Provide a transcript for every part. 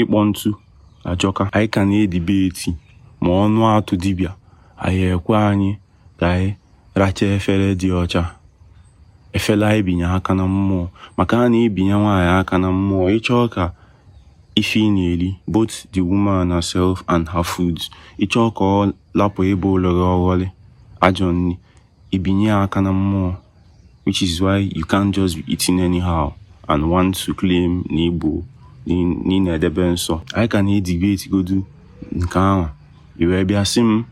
ịkpọ ntu ajọka anyị ka na-edibeti ma ọnụ atụ dibịa anyị ekwe anyị ka anyị racha efere dị ọcha efere anyị binye aka na mmụọ maka a na-ebinye nwaanyị aka na mmụọ ị chọọ ka ife ị na-eri both the woman herself and her foods ị chọọ ka ọ lapụ ebe ụlọrọ ọghọlị ajọ nri i binye ya aka na mmụọ which is why you can't just be eating anyhow and want to claim na igbo na ị na-edebe nsọ anyị ka na-edibeti godu nke ahụ i wee bịa sị m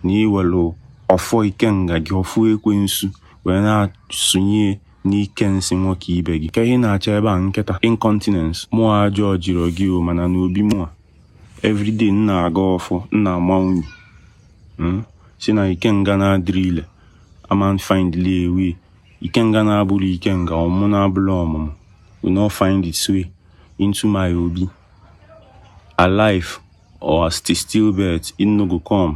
na i welu ọfọ ikenga gị ọfọ ekwensu wee na-asụnye n'ike nsị nwoke ibe gị ka ihe na-achọ ebe a nkịta incontinence mmụọ ọjọọ jiri gị o mana n'obi mụa everyday na-agọ ọfọ na-ama unyi hmm? si na ikenga na-adịrọ ile ama find their way ikenga na-abụrọ ikenga ọmụ na-abụrọ ọmụmụ will not find its way into my obi alive or as the stillbirth it no go come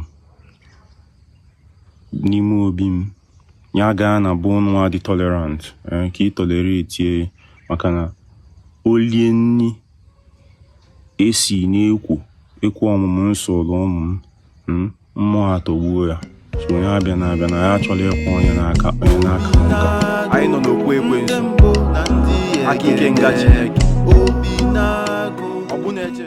n'ime obi m ya gaa na be nwa dị tolerant eh, ka ị tolerate maka na o lie nni E si na-ekwu okwu ọmụmụ m soro ụmụ m mm, mmụọ atọgbuo ya so onye abịana abịa na ya achọla ịkwụ onye n'aka onye n'aka nka anyị nọ n'okwu ekwensu aka ikenga chineke ọ bụ na-eche